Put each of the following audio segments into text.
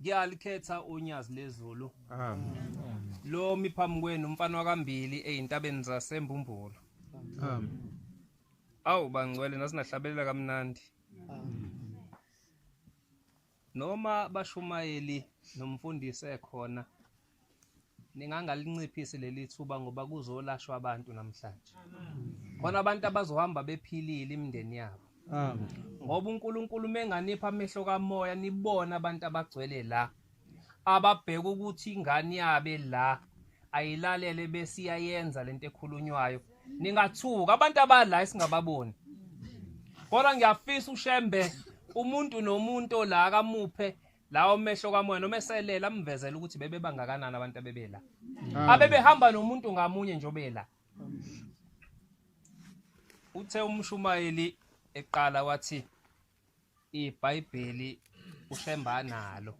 ngiyalikhetha unyazi lezulu lo mi phambi kwenu umfana wakambili ezintabeni zasembumbulo awu bangcwele nasinahlabelela kamnandi noma bashumayeli nomfundisi ekhona ningangalinciphisi leli thuba ngoba kuzolashwa abantu namhlanje khona abantu abazohamba bephilile imindeni yabo ngoba uNkulunkulu menganipha amehlo kamoya nibona abantu abagcwele la ababheka ukuthi ingane yabe la ayilalele bese iyayenza lento ekhulunywayo ningathuka abantu abala esingababoni kodwa ngiyafisa ushembe umuntu nomuntu la akamuphe lawo mehlo kamoya noma eselela amvezela ukuthi bebebangakanani abantu abebela ah. abebehamba nomuntu ngamunye njobela uthe umshumayeli eqala wathi ibhayibheli ushemba nalo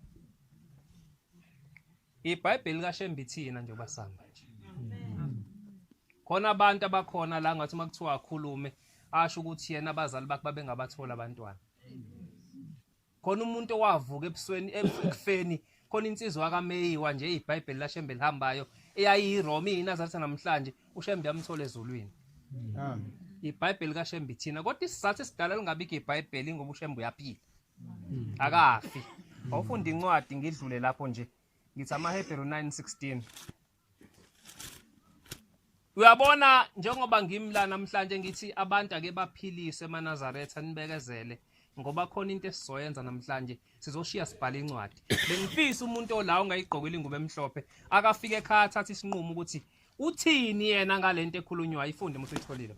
ibhayibheli kashemba ithina nje basanga nje khona abantu abakhona la ngathi uma kuthiwa akhulume asho ukuthi yena abazali bakhe babengabathola abantwana khona umuntu owavuka ebusweni ebufeni khona insizwa kaMeyiwa nje iBhayibheli laShembe lihambayo eyayiyiRoma iNazaretha namhlanje uShembe yamthola ezulwini amen iBhayibheli kaShembe ithina kodwa isizathu esidala lingabikho iBhayibheli ngoba uShembe uyaphila hmm. akafi awufunda incwadi ngidlule lapho nje ngithi amaHebheru 9:16 Uyabona njengoba ngimla namhlanje ngithi abantu ake baphilise emaNazaretha nibekezele ngoba khona into esizoyenza namhlanje sizoshiya sibhala incwadi bengifisa umuntu olawo ungayigqokile ingubo emhlophe akafike ekhaya athathe isinqumo ukuthi uthini yena ngalento ekhulunywayo ifunde uma usuyitholile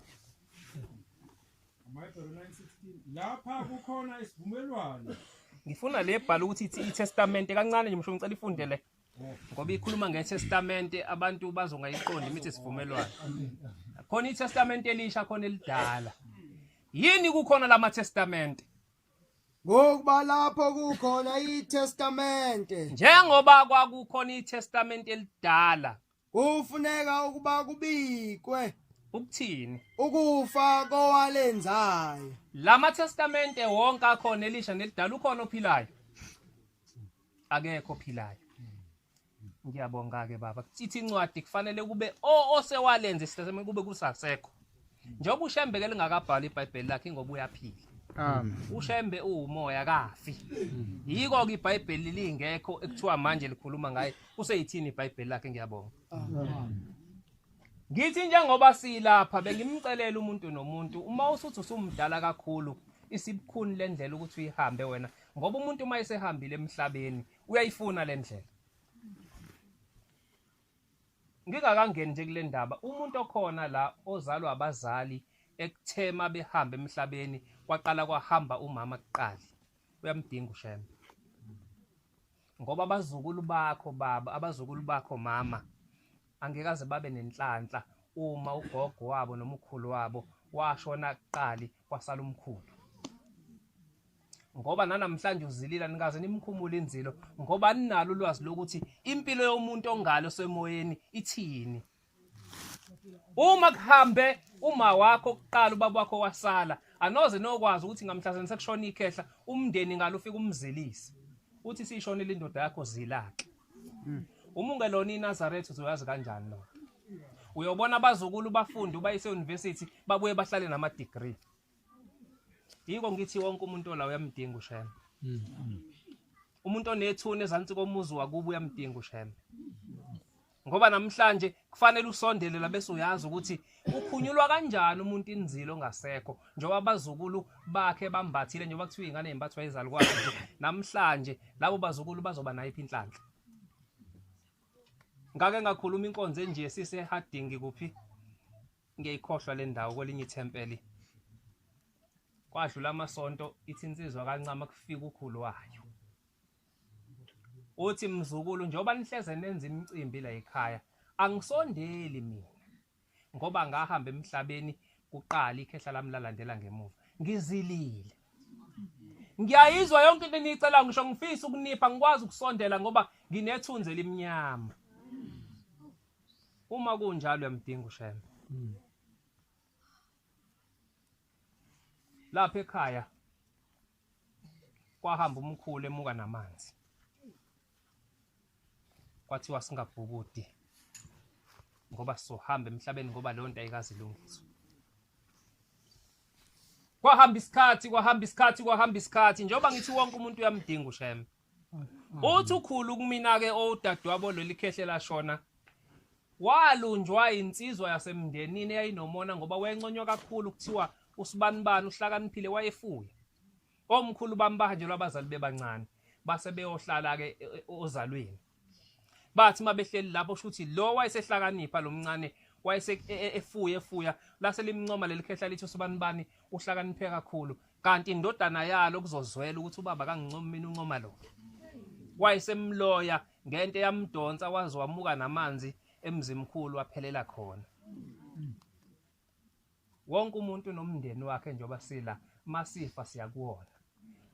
lapha kukhona isivumelwano ngifuna le bhala ukuthi ithi itestamente kancane nje msho ngicela ifunde le ngoba ikhuluma ngetestamente abantu bazongayiqondi imithi sivumelwano khona itestamente elisha khona elidala yini kukhona lama testamente ngokuba lapho kukhona itestamente njengoba kwakukhona itestamente elidala Kufuneka ukuba kubikwe ukuthini? Ukufa kowalenzayo. Lama testamente wonke akhona elisha nelidala ukhona ophilayo. Akekho ophilayo. Ngiyabonga ke baba. Kuthi incwadi kufanele kube o osewalenza isitestamente kube kusasekho. njengoba ushembe ke lingakabhali ibhayibheli lakhe ngoba uyaphila Amen. ushembe uwumoya kafi yiko ke ibhayibheli lingekho ekuthiwa manje likhuluma ngaye useyithini ibhayibheli lakhe ngiyabonga ngithi njengoba silapha bengimcelela umuntu nomuntu uma usuthi usumdala kakhulu isibukhuni le ndlela ukuthi uyihambe wena ngoba umuntu uma esehambile emhlabeni uyayifuna le ndlela Ngingakangeni nje kule ndaba, umuntu okhona la ozalwa abazali ekuthe uma behamba emhlabeni kwaqala kwahamba umama kuqala uyamdinga ushembe ngoba abazukulu bakho baba abazukulu bakho mama angekaze babe nenhlanhla uma ugogo wabo nomkhulu wabo washona kuqali kwasala umkhulu ngoba nanamhlanje uzilila nikaze nimkhumule inzilo ngoba ninalo ulwazi lokuthi impilo yomuntu ongalo semoyeni ithini uma kuhambe uma wakho kuqala ubaba wakho wasala anoze nokwazi ukuthi ngamhlazeni sekushona ikhehla umndeni ngalo ufika umzelise uthi sishonile indoda yakho zilake hmm. uma ungelona inazaretha uzoyazi kanjani lo uyobona abazukulu bafunde ubayise university babuye bahlale nama degree yiko ngithi wonke umuntu ola uyamdinga ushembe umuntu onethuna ezansi komuzi wakubo uyamdinga ushembe ngoba namhlanje kufanele usondele la bese uyazi ukuthi ukhunyulwa kanjani umuntu inzilo ongasekho njengoba abazukulu bakhe bambathile njengoba kuthiwa ingane yembathwa izalukwazi nje namhlanje labo bazukulu bazoba nayiphi inhlanhla ngake ngakhuluma inkonzo enje sise harding kuphi Ngiyayikhohlwa le ndawo kwelinye ithempeli. Kwadlula amasonto ithi insizwa kancama kufika ukhulu wayo. Uthi mzukulu njengoba nihleze nenza imicimbi la ekhaya angisondeli mina ngoba ngahamba emhlabeni kuqala ikhehla lami lalandela ngemuva. Ngizilile. Ngiyayizwa yonke into eniyicela ngisho ngifisa ukunipha ngikwazi ukusondela ngoba nginethunzi elimnyama. Uma kunjalo uyamdinga uShembe. Hmm. Lapha ekhaya kwahamba umkhulu emuka namanzi. Kwathiwa singabhukudi ngoba sizohamba emhlabeni ngoba leyo nto ayikazi ilungiswa. Kwahamba isikhathi, kwahamba isikhathi, kwahamba isikhathi njengoba ngithi wonke umuntu uyamdinga uShembe. Uthi ukhulu kumina ke owudadewabo leli khehle lashona walunjwa insizwa yasemndenini eyayinomona ngoba wayenconywa kakhulu kuthiwa usibanibani uhlakaniphile wayefuya omkhulu bambahanjelwa abazali bebancane base beyohlala ke e, e, ozalweni bathi uma behleli lapho kusho ukuthi lo wayesehlakanipha lo mncane wayesefuye e, e, efuya lase limncoma leli khehla lithi usibani bani uhlakaniphe kakhulu kanti indodana yalo kuzozwela ukuthi ubaba kangincomi mina uncoma lo wayesemloya ngento eyamdonsa waze wamuka namanzi emzimkhulu waphelela khona wonke umuntu nomndeni wakhe njengoba sila masifa siyakuwona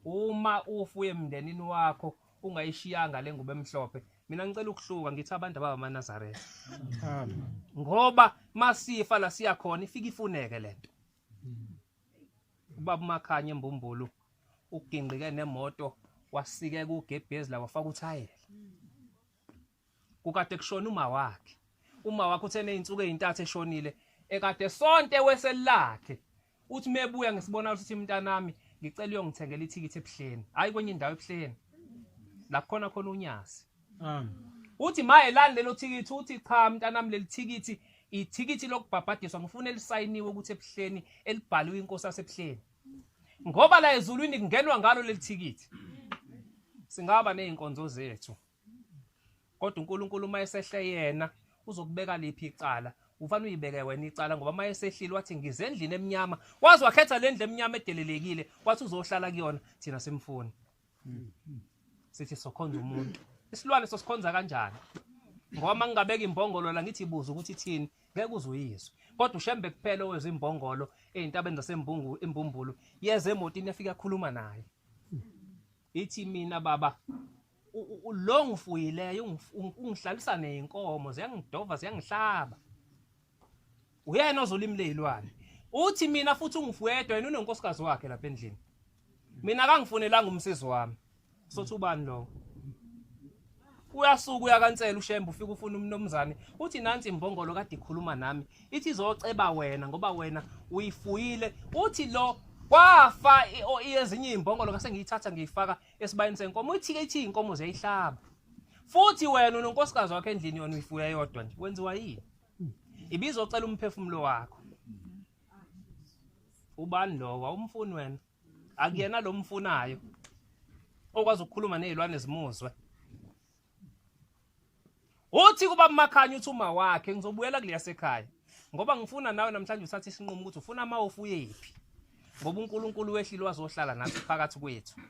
uma ufuye emndenini wakho ungayishiyanga le ngubo emhlophe mina ngicela ukuhluka ngithi abantu ababamanazaretha ngoba masifa la siya khona ifika ifuneke le nto ubaba umakhanya embumbulu ugingqike nemoto wasikeka ugebhezi la wafaka uthayela kukade kushona uma wakhe uma wakhe uthe nezinsuku ezintathu eshonile ekade sonke weselakhe uthi mebuya ngisibona ukuthi mntanami ngicela uyongithengela ithikithi ebuhleni hayi kwenye indawo ebuhleni la khona khona unyasi um uthi maye lani lelo thikithi uthi cha mntanami leli thikithi ithikithi lokubhabhadiswa ngifuna elisayiniwe ukuthi ebuhleni elibhaliwe inkosi asebuhleni ngoba la ezulwini kungenwa ngalo leli thikithi singaba nezinkonzo zethu kodwa uNkulunkulu uma esehle yena uzokubeka liphi icala ufanele uyibeke wena icala ngoba uma esehlile wathi ngize endlini emnyama wazi wakhetha le ndlu emnyama edelelekile wathi uzohlala kuyona thina simfuni sithi sokhonza umuntu isilwane sosikhonza kanjani ngoba uma ngingabeka imbongolo la ngithi ibuza ukuthi ithini ngeke uzuyizwe kodwa ushembe kuphela owezwa imbongolo ey'ntabeni zasembumbulo yeza emotini yafika akhuluma naye ithi mina baba lo ngifuyileyo ungihlalisa neyinkomo ziyangidova ziyangihlaba uyena ozolimi leyilwane uthi mina futhi ungifuyedwa yena unonkosikazi wakhe lapha endlini mina kangifunelanga umsizi wami sothi ubani lowo uyasuka uyakansela ushembe ufika ufuna umnomzane uthi nansi imbongolo kade ikhuluma nami ithi izoceba wena ngoba wena uyifuyile uthi lo kwafa ezinye izimbongolo ngase ngiyithatha ngiyifaka esibayeni senkomo ithike ithi inkomo ziyayihlaba futhi wena unonkosikazi wakho endlini yona uyifuya yodwa nje wenziwa yini ibizocela umphefumulo wakho ubani lowa umfuni wena akuyena lo mfunayo okwazi ukukhuluma nezilwane zimuzwe uthi kuba makhanya uthi uma wakhe ngizobuyela kuleya sekhaya ngoba ngifuna nawe namhlanje uthathe isinqumo ukuthi ufuna ama ofuyephi ngoba uNkulunkulu wehlile wazohlala nathi phakathi kwethu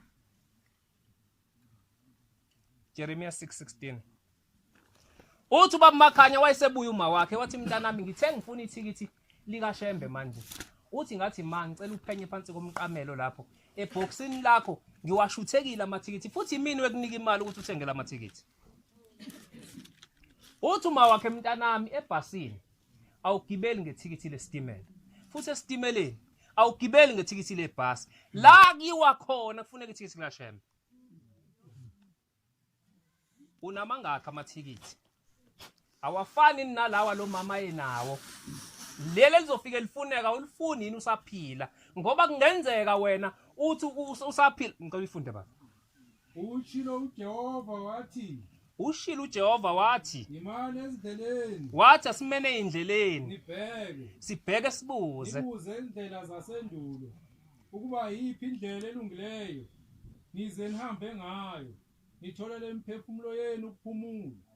Jeremiah 6:16 Uthi ubaba Makhanya wayesebuya uma wakhe wathi mntanami ngithe ngifuna ithikithi lika Shembe manje uthi ngathi ma ngicela uphenye phansi komqamelo lapho ebhoksini lakho ngiwashuthekile amathikithi futhi imini wekunika imali ukuthi uthengele amathikithi uthi uma wakhe mntanami ebhasini awugibeli ngethikithi lesitimela futhi esitimeleni awugibeli ngethikithi lebhasi la kuyiwa khona kufuneka ithikithi likashembe unamangakhi amathikithi awafani nalawa lo mama enawo leli elizofike lifuneka ulifuni yini usaphila ngoba kungenzeka wena uthi usaphila ngicela uyifunde baba Ushilo uJehova wathi ushilo uJehova wathi ngimane ezindleleni wathi asimene indleleni nibheke sibheke sibuze sibuze indlela zasendulo ukuba yiphi indlela elungileyo nize nihambe ngayo nitholele imiphefumulo yenu ukuphumula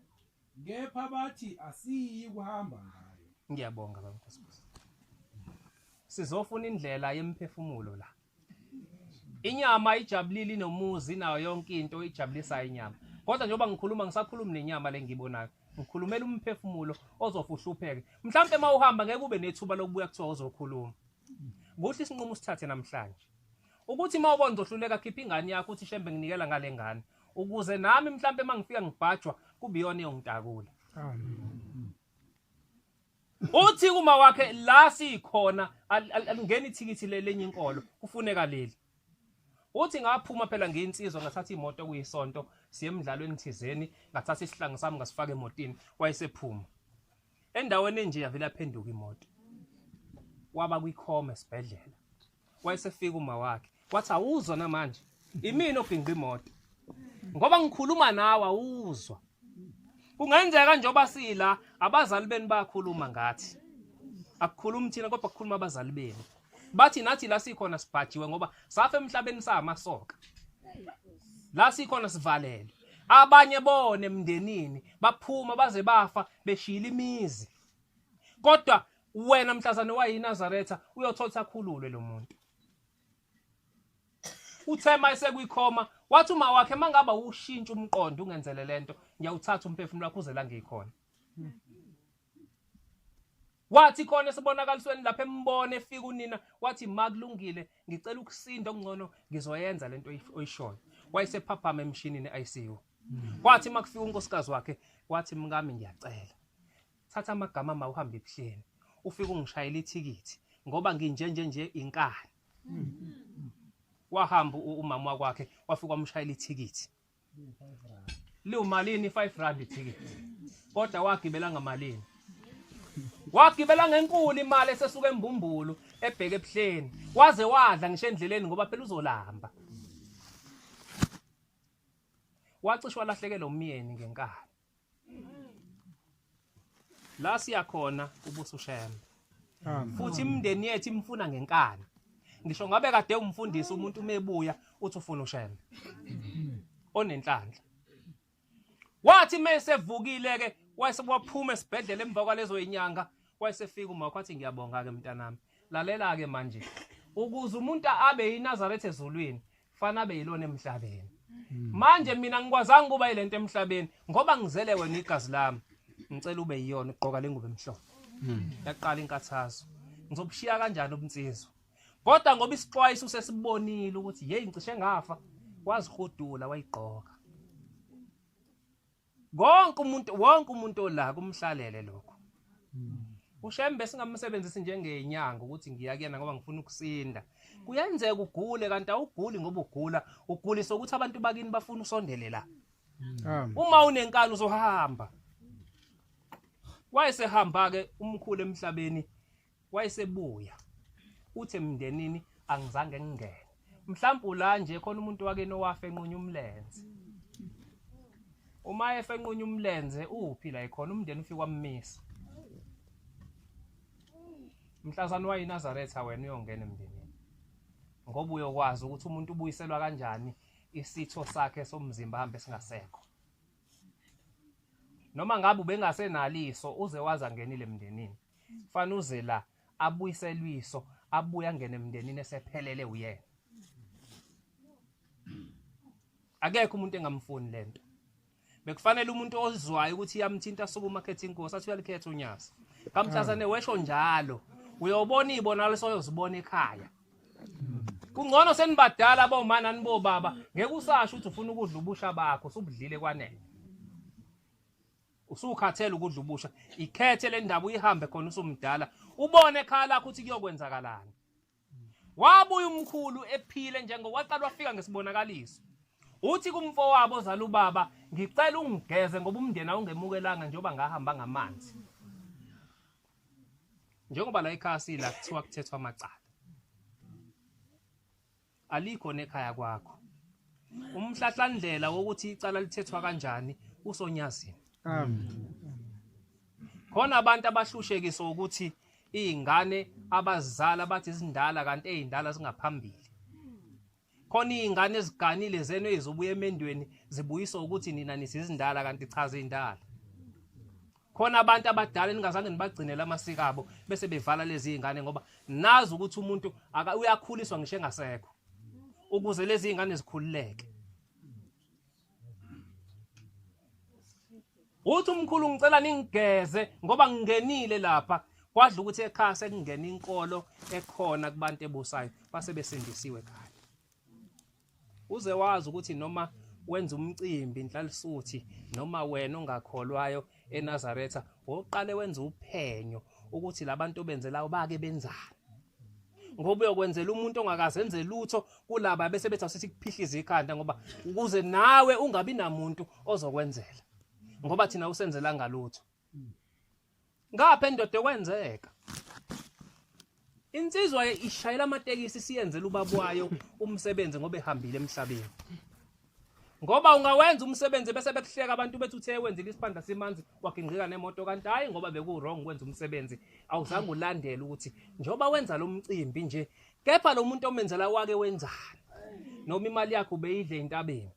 kepha bathi asiyi kuhamba ngayo ngiyabonga baba nkosikazi sizofuna indlela yemphefumulo la inyama ijabulile inomuzi nayo yonke into ijabulisayo inyama kodwa njengoba ngikhuluma ngisakhulumi nenyama le ngiyibonayo ngikhulumela umphefumulo ozofa uhlupheke mhlawumpe uma uhamba ngeke ube nethuba lokubuya kuthiwa uzokhuluma kuhle isinqumo usithathe namhlanje ukuthi uma ubona uzohluleka khipha ingane yakho uthi shembe nginikela ngale ngane ukuze nami mhlawumpe uma ngifika ngibhajwa kube iyona eyongitakula uthi uma wakhe la sikhona alingeni ithikithi lenye inkolo kufuneka leli uthi ngaphuma phela ngiyinsizwa ngathatha imoto kuyisonto siye emdlalweni thizeni ngathatha isihlangu sami ngasifaka emotini wayesephuma endaweni enje yavela phenduka imoto waba kwikhoma esibhedlela wayesefika uma wakhe wathi awuzwa namanje imina obhinqa imoto ngoba ngikhuluma nawe awuzwa kungenzeka njengoba sila abazali benu bayakhuluma ngathi akukhulumi thina kodwa kukhuluma abazali benu bathi nathi la sikhona sibhajiwe ngoba safa emhlabeni samasoka la sikhona sivalelwe abanye bone emndenini baphuma baze bafa beshila imizi kodwa wena mhlazane wayiNazaretha uyothola ukuthi akhululwe lo muntu uthe uma esekwikhoma wathi uma wakhe uma ngaba ushintsha umqondo ungenzele le nto ngiyawuthatha umphefumulo wakho uze la ngiyikhona wathi khona esibonakalisweni lapha embona efika unina wathi ma kulungile ngicela ukusinda okungcono ngizoyenza le nto oyishoyo wayesephaphama emshinini i-icu wathi uma kufika unkosikazi wakhe wathi mkami ngiyacela thatha amagama ma uhamba ebuhleni ufike ungishayela ithikithi ngoba nginjenje nje inkani wahamba u- umama wakwakhe wafika wamshayela ithikithi liwumalini 5 rand ithikithi kodwa wagibela ngamalini wagibela ngenkulu imali esesuka embumbulu ebheke ebuhleni waze wadla ngisho endleleni ngoba phela uzolamba wacishwa lahlekelwa umyeni ngenkani la siya khona ubuso shembe futhi imndeni yethu imfuna ngenkani ngisho ngabe kade umfundisi umuntu umebuya uthi ufuna ushembe onenhlanhla wathi mesevukile ke wayesewaphuma esibhedlela emva kwalezo inyanga wayesefika uma kwathi ngiyabonga ke mntanami lalela ke manje ukuze umuntu abe yiNazaretha ezulwini fana abe yilona emhlabeni manje mina ngikwazanga ukuba ilento emhlabeni ngoba ngizele wena igazi lami ngicela ube yiyona ugqoka lengubo emhlophe yaqala inkathazo ngizobushiya kanjani ubunsizwa kodwa ngoba isixwayiso usesibonile ukuthi yeyi ngicishe ngafa wazihudula wayigqoka konke umuntu wonke umuntu ola kumhlalele lokho hmm. ushembe singamsebenzisi njengenyanga ukuthi ngiya kuyena ngoba ngifuna ukusinda kuyenzeka ugule kanti awuguli ngoba ugula ugulisa ukuthi abantu bakini bafuna usondele la hmm. uma unenkani uzohamba wayesehamba-ke umkhulu emhlabeni wayesebuya uthi emndenini angizange ngingene mhlawumbe ula nje khona umuntu wake nowafe enqunya umlenze uma efe enqunya umlenze uphi la ekhona umndeni ufike wammisa mhlazana wayinazaretha wena uyongena emndenini ngoba uyokwazi ukuthi umuntu ubuyiselwa kanjani isitho sakhe somzimba hambe singasekho noma ngabe ubengasenaliso uze waze angenile emndenini fana uze la abuyiselwiso abuye angene emndenini esephelele uyena akekho umuntu engamfuni lento bekufanele umuntu ozwayo ukuthi iyamthinta suku umakhetha inkosi athi uyalikhetha unyasa kamthazane wesho njalo uyobona iy'bonakaliso oyozibona ekhaya kungcono senibadala boma nani bobaba ngeke usasho ukuthi ufuna ukudla ubusha bakho usubudlile kwanele usukhathele ukudla ubusha ikhethe le ndaba uyihambe khona usumdala ubone ekhaya lakho ukuthi kuyokwenzakalani wabuya umkhulu ephile njengoba waqala wafika ngesibonakaliso uthi kumfowabo ozala ubaba ngicela ungigeze ngoba umndeni awungemukelanga njengoba ngahamba ngamanzi njengoba la ekhaya sila kuthiwa kuthethwa amacala alikho nekhaya kwakho umhlahlandlela wokuthi icala lithethwa kanjani usonyazini khona abantu abahlushekiswa ukuthi iy'ngane abazizala bathi zindala kanti ey'ndala zingaphambili khona iy'ngane eziganile zenu ezibuya emendweni zibuyiswa ukuthi nina nisizindala kanti chaza iy'ndala khona abantu abadala eningazange nibagcinele amasiko abo bese bevala lezi y'ngane ngoba nazi ukuthi umuntu uyakhuliswa ngisho engasekho ukuze lezi y'ngane zikhululeke uthi umkhulu ngicela ningigeze ngoba ngingenile lapha kwadla ukuthi ekhaya sekungena inkolo ekhona kubantu ebusayo base besindisiwe kanye uze wazi ukuthi noma wenza umcimbi inhlalisuthi noma wena ongakholwayo eNazaretha ngokuqale wenza uphenyo ukuthi labantu obenzelayo bake benzani ngoba uyokwenzela umuntu ongakazenze lutho kulaba bese bethi asithi kuphihliza ikhanda ngoba ukuze nawe ungabi namuntu ozokwenzela ngoba thina usenzela ngalutho ngapha endoda kwenzeka Insizwa ishayela amatekisi siyenzela ubaba wayo umsebenzi ngoba ehambile emhlabeni. Ngoba ungawenza umsebenzi bese bekuhleka abantu bethu uthe wenzile isiphandla simanzi wagingqika nemoto kanti hayi ngoba beku wrong kwenza umsebenzi awuzange ulandele ukuthi njoba wenza lo mcimbi nje kepha lo muntu omenzela wake wenzani noma imali yakhe ubeyidle entabeni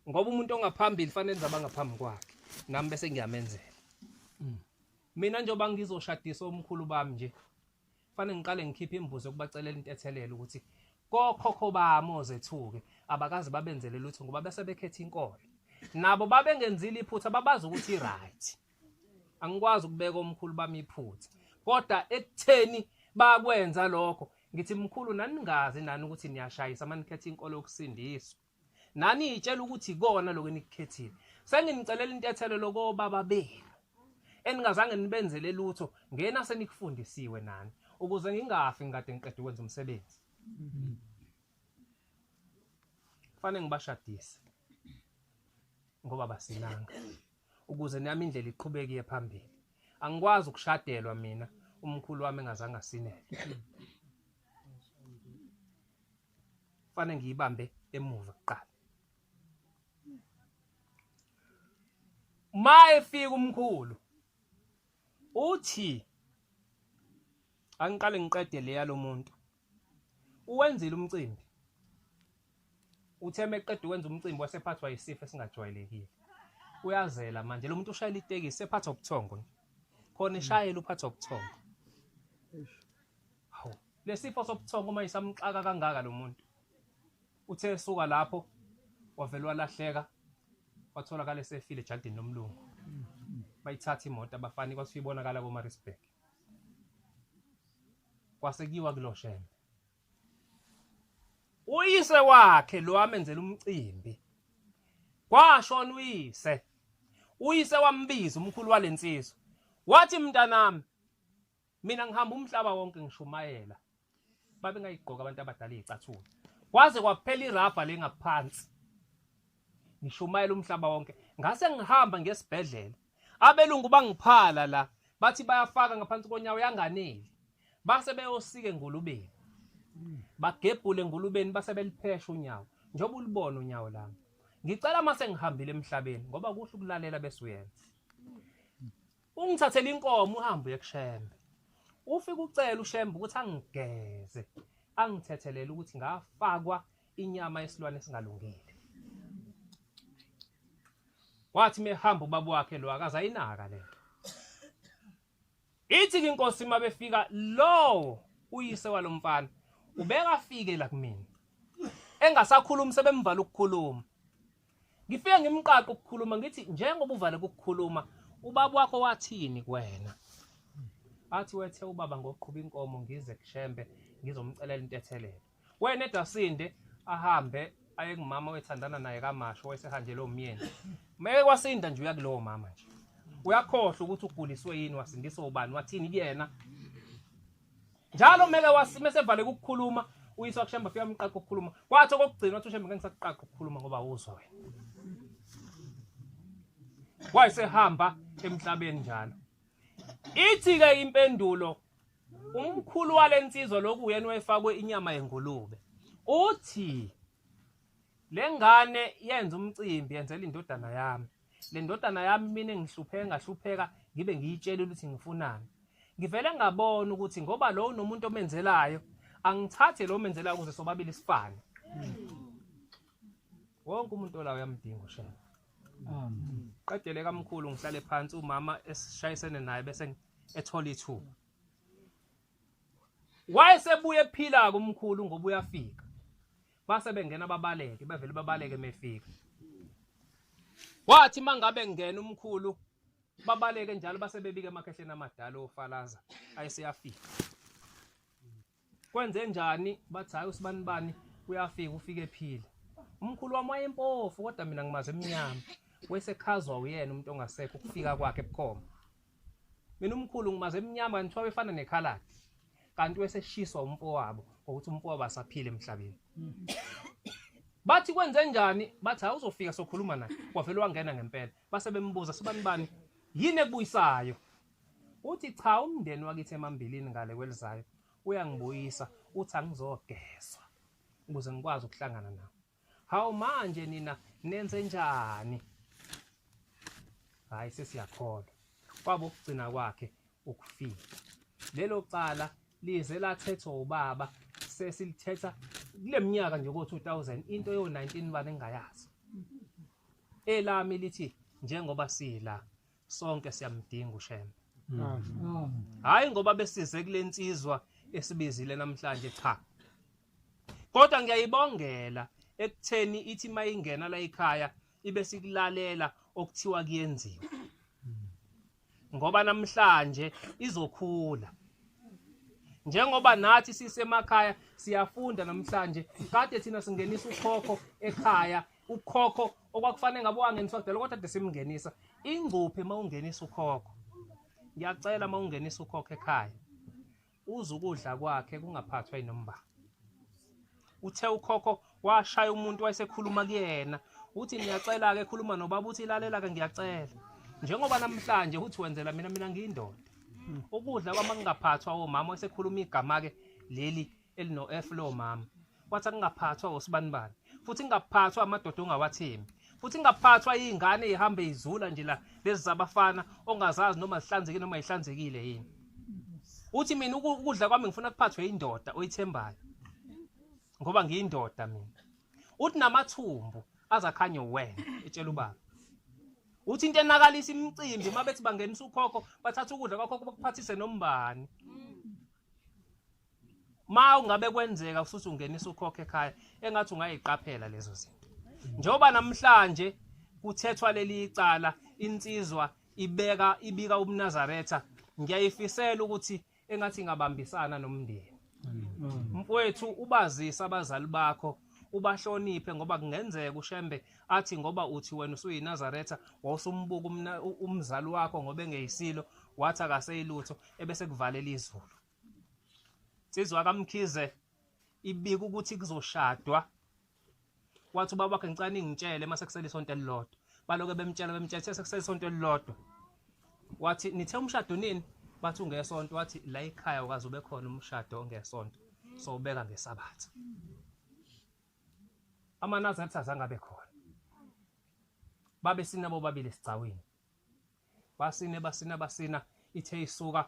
ngoba umuntu ongaphambili fanele nje abangaphambi kwakhe nami bese ngiyamenzela mm. mina njengoba ngizoshadisa omkhulu bami nje fanele ngiqale ngikhiphe imbuzo yokubacelela intethelelo ukuthi kokhokho bami ozethuke abakazi babenzele lutho ngoba bese bekhetha inkolo nabo babengenzile iphutha babazi ukuthi i-right angikwazi ukubeka omkhulu bami iphutha kodwa ekutheni bakwenza lokho ngithi mkhulu naningazi nani ukuthi niyashayisa manikhetha inkolo yokusindiswa nani itshela ukuthi ikona lokho enikukhethile senginicelela intethelo lokobaba benu eningazange nibenzele lutho ngena senikufundisiwe nani ukuze ngingafi ngikade ngiqeda ukwenza umsebenzi kufanele ngibashadise ngoba basinanga ukuze nami indlela iqhubeke iye phambili angikwazi ukushadelwa mina umkhulu wami engazange asinele fanele ngiyibambe emuva kuqala ma efika umkhulu uthi angiqale ngiqede leya lomuntu Uwenzile umcimbi. Uthe meqeda ukwenza umcimbi wasephathwa yisifo esingajwayelekile. Uyazela manje lo muntu ushayela itekisi sephathwa ubuthongo nje. Khona ishayela uphathwa ubuthongo. Hawu, lesifo sobuthongo uma isamxaka kangaka lo muntu. Uthe esuka lapho wavele walahleka watholakala esefile ejardini lomlungu. Bayithatha imoto abafani kwasifike ibonakala koMarisburg. kwasekiwa kuloshembe uyise wakhe lo amenzela umcimbi kwashona uyise uyise wambiza umkhulu walensizwa wathi mntanami mina ngihamba umhlaba wonke ngishumayela babe ngayigqoka abantu abadala izicathulo kwaze kwaphela irabha lengaphansi ngishumayela umhlaba wonke ngase ngihamba ngesibhedlela Abelungu bangiphala la bathi bayafaka ngaphansi konyawo yanganeli base beyosike ngulubeni bagebhule ngulubeni base beliphesha unyawo njengoba ulibona unyawo lami ngicela uma sengihambile emhlabeni ngoba kuhle ukulalela bese uyenza ungithathela inkomo uhambe uye kushembe ufike ucela ushembe ukuthi angigeze angithethelele ukuthi ngafakwa inyama yesilwane esingalungile wathi mehamba ubaba wakhe lo akaza inaka le ithi ke inkosi uma befika lowo uyise walomfana ubekafike la kumina engasakhulumi sebemvala ukukhuluma ngifike ngimqaqa ukukhuluma ngithi njengoba uvale ukukhuluma ubaba wakho wathini kuwena athi wethe ubaba ngoqhuba inkomo ngize kushembe ngizomcelela intethelelo wena edasinde ahambe aye kumama wethandana naye kamasho wayesehanjelwe umyeni meke kwasinda nje uya kulowo mama nje uyakhohlwa ukuthi uguliswe yini wasindiswa ubani wathini kuyena njalo meke wasimesevale ukukhuluma uyiswa kushemba fika umqaqo ukukhuluma kwathi okokugcina wathi ushemba ngengisakuqaqo ukukhuluma ngoba uzwa wena wayesehamba emhlabeni njalo ithi-ke impendulo Umkhulu wale nsizwa lokhu uyena wayefakwe inyama yengulube. Uthi le ngane yenza umcimbi yenzela indodana yami. Le ndodana yami mina ngihlupheka ngahlupheka ngibe ngiyitshela ukuthi ngifunani. Ngivele ngabona ukuthi ngoba lo unomuntu omenzelayo angithathe lo menzelayo ukuze sobabili sifane. Wonke umuntu olayo uyamdinga ushela. qedele kamkhulu ngihlale phansi umama esishayisene naye bese ethola ithuba wayesebuye ephila kumkhulu ngoba uyafika base bengena babaleke bevele babaleke mefika wathi mangabe ngena umkhulu babaleke njalo base bebike emakhehleni amadala ofalaza ayeseyafika kwenze njani bathi hayi usibani bani uyafika ufike ephila umkhulu wami wayempofu kodwa mina ngimaze emnyama wesekhazwa uyena umuntu ongasekho ukufika kwakhe ebukhoma mina umkhulu ngimaze emnyama ngithiwa befana nekhaladi kanti weseshiswa umfowabo ngokuthi umfowabo asaphile emhlabeni bathi kwenze njani bathi hayi uzofika sokhuluma naye wavele wangena ngempela base bembuza sibani bani yini ekubuyisayo Uthi cha umndeni wakithi emambilini ngale kwelizayo uyangibuyisa uthi angizogezwa ukuze ngikwazi ukuhlangana nawo. Hawu manje nina nenze njani? Hayi sesiyakholwa. Kwabo ukugcina kwakhe ukufika. Lelo cala lize lathethwa ubaba sesilithetha kuleminyaka nje ko 2000 into yo 19 bani engayazi. Elami lithi njengoba sila sonke siyamdinga uShembe hayi ngoba besize kulensizwa esibizile namhlanje cha kodwa ngiyayibongela ekutheni ithi mayingena la ekhaya ibe sikulalela okuthiwa kuyenziwa ngoba namhlanje izokhula njengoba nathi sisemakhaya siyafunda namhlanje kade thina singenisa ukhokho ekhaya ukhokho okwakufanele ngabe wangeniswa kudala kodwa de simngenisa ingcuphe uma ungenisa ukhokho ngiyacela uma ungenisa ukhokho ekhaya uze ukudla kwakhe kungaphathwa inomba uthe ukhokho washaya umuntu wayesekhuluma kuyena uthi ngiyacela-ke khuluma nobaba uthi ilalela-ke ngiyacela njengoba namhlanje uthi wenzela mina mina ngiyindoda ukudla kwama kungaphathwa omama esekhuluma igama-ke leli elino F lo mama wathi akungaphathwa osibanibani futhi ingaphathwa amadoda ongawathembi futhi ingaphathwa izingane ihambe izula nje la lezi zabafana ongazazi noma zihlanzekile noma ihlanzekile yini uthi mina ukudla kwami ngifuna kuphathwe indoda oyithembayo ngoba ngiyindoda mina uthi namathumbu azakhanye uwena etshela ubaba uthi into enakalisa imicimbi uma bethi bangenisa ukhokho bathatha ukudla kwakhokho bakuphathise nombani ma ungabe kwenzeka futhi ungenisa ukhokhe ekhaya engathi ungayiqaphela lezo zinto njengoba namhlanje kuthethwa leli icala insizwa ibeka ibika umnazaretha ngiyayifisela ukuthi engathi ingabambisana nomndeni mfowethu ubazisa abazali bakho ubahloniphe ngoba kungenzeka ushembe athi ngoba uthi wena usuyinazaretha wawusumbuka umzali wakho ngoba engeyisilo wathi akaseyilutho ebese kuvalela izulu Sizwa kaMkhize ibika ukuthi kuzoshadwa wathi ubaba wakhe ngicane ngitshele mase kusele isonto elilodwa baloke bemtshela bemtshela sese kusele isonto elilodwa wathi nithe umshado nini bathi ungesonto wathi la ekhaya ukaze ube khona umshado ongesonto so ubeka ngesabatha amanazaretha azange abe khona babe sinabo babili esigcawini basine basina basina ithe isuka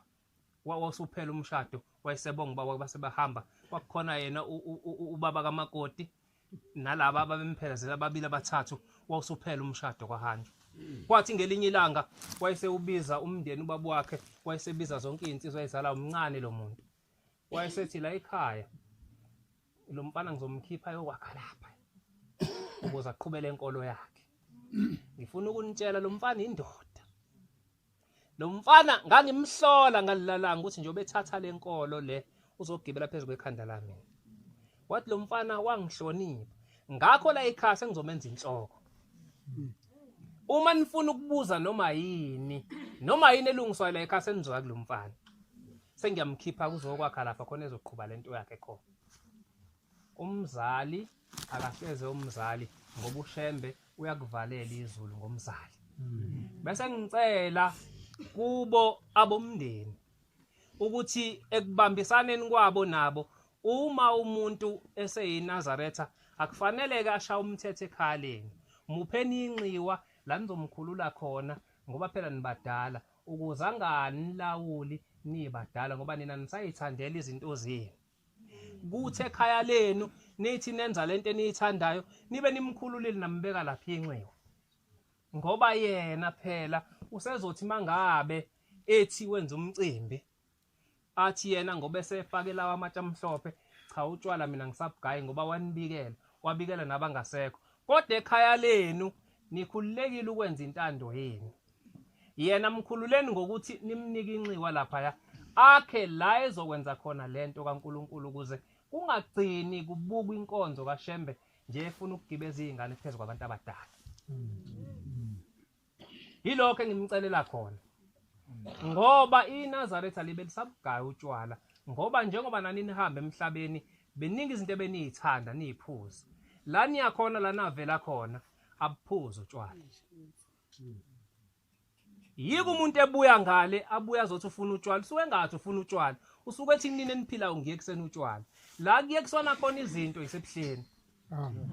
wawusuphela umshado wayesebonga ubaba base bahamba kwakukhona yena ubaba kamakoti nalaba ababemphelezela ababili abathathu wawusuphela umshado kwahanjwa kwathi ngelinye ilanga wayesewubiza umndeni ubaba wakhe wayesebiza zonke izinsizwa ezala umncane lo muntu wayesethi la ekhaya lo mfana ngizomkhipha yokwakha lapha ukuze aqhubele inkolo yakhe ngifuna ukunitshela lo mfana indoda lo mfana ngangimhlola ngalilalanga ukuthi nje obethatha le nkolo le uzogibela phezu kwekhanda lami wathi lo mfana wangihlonipha ngakho la ekhaya sengizomenza inhloko uma nifuna ukubuza noma yini noma yini elungiswayo la ekhaya senizwa kulo mfana sengiyamkhipha kuzokwakha lapha khona ezoqhuba le nto yakhe khona umzali akahleze umzali ngoba ushembe uyakuvalela izulu ngomzali bese ngicela kubo abomndeni ukuthi ekubambisaneni kwabo nabo uma umuntu eseyiNazaretha akufanele ke ashaya umthetho ekhaleni mupheni inxiwa la nizomkhulula khona ngoba phela nibadala ukuze anganilawuli nibadala ngoba nina nisayithandela izinto zenu kuthi ekhaya lenu nithi nenza lento eniyithandayo nibe nimkhululile nambeka lapha inxiwa ngoba yena phela usezothi mangabe ethi wenza umcimbi athi yena ngoba esefake lawa amatshe amhlophe cha utshwala mina ngisabhugayi ngoba wanibikela wabikela nabangasekho kodwa ekhaya lenu nikhululekile ukwenza intando yenu yena mkhululeni ngokuthi nimnike inxiwa laphaya akhe la ezokwenza khona lento kaNkuluNkulu ukuze kungagcini kubukwa inkonzo kaShembe nje efuna ukugibeza izingane phezulu kwabantu abadala yilokho engimcelela khona ngoba iNazaretha libe lisabugaya utshwala ngoba njengoba nani nihambe emhlabeni beningi izinto ebeniyithanda niyiphuza la niyakhona la navela khona abuphuza utshwala yiko umuntu ebuya ngale abuya azothi ufuna utshwala usuke ngathi ufuna utshwala usuke ethi nini eniphilayo ngiye kusena utshwala la kuye kusona khona izinto isebuhleni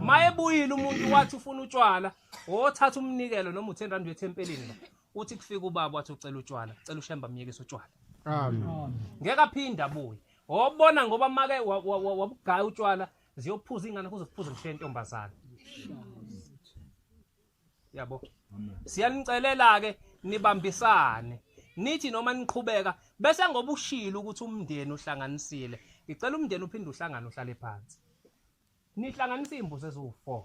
mayebuyile umuntu wathi ufuna utshwala wothatha umnikelo noma u-10 rand uyethempelini la uthi kufika ubaba wathi ucela utshwala cela ushemba myekise utshwala ngeke aphinde abuye wobona ngoba make wabugaya utshwala ziyophuza iy'ngane kuze kuphuze ngishiye intombazane yabo siyanicelela ke nibambisane nithi noma niqhubeka bese ngoba ushilo ukuthi umndeni uhlanganisile ngicela umndeni uphinde uhlangane uhlale phansi nihlanganisa iy'mbuzi eziwu-four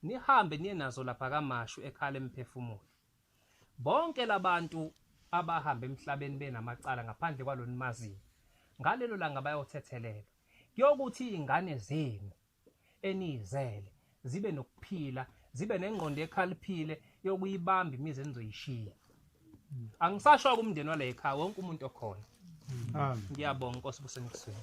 nihambe niye nazo lapha kamashu ekhala emphefumulo bonke labantu abahamba emhlabeni benamacala ngaphandle kwalo nimaziyo ngalelo langa bayothethelelwa kuyokuthi iy'ngane zenu eniyizele zibe nokuphila zibe nengqondo ekhaliphile yokuyibamba imizi enizoyishiya angisasho kumndeni wale ekhaya wonke umuntu okhona ngiyabonga inkosi busenekusweni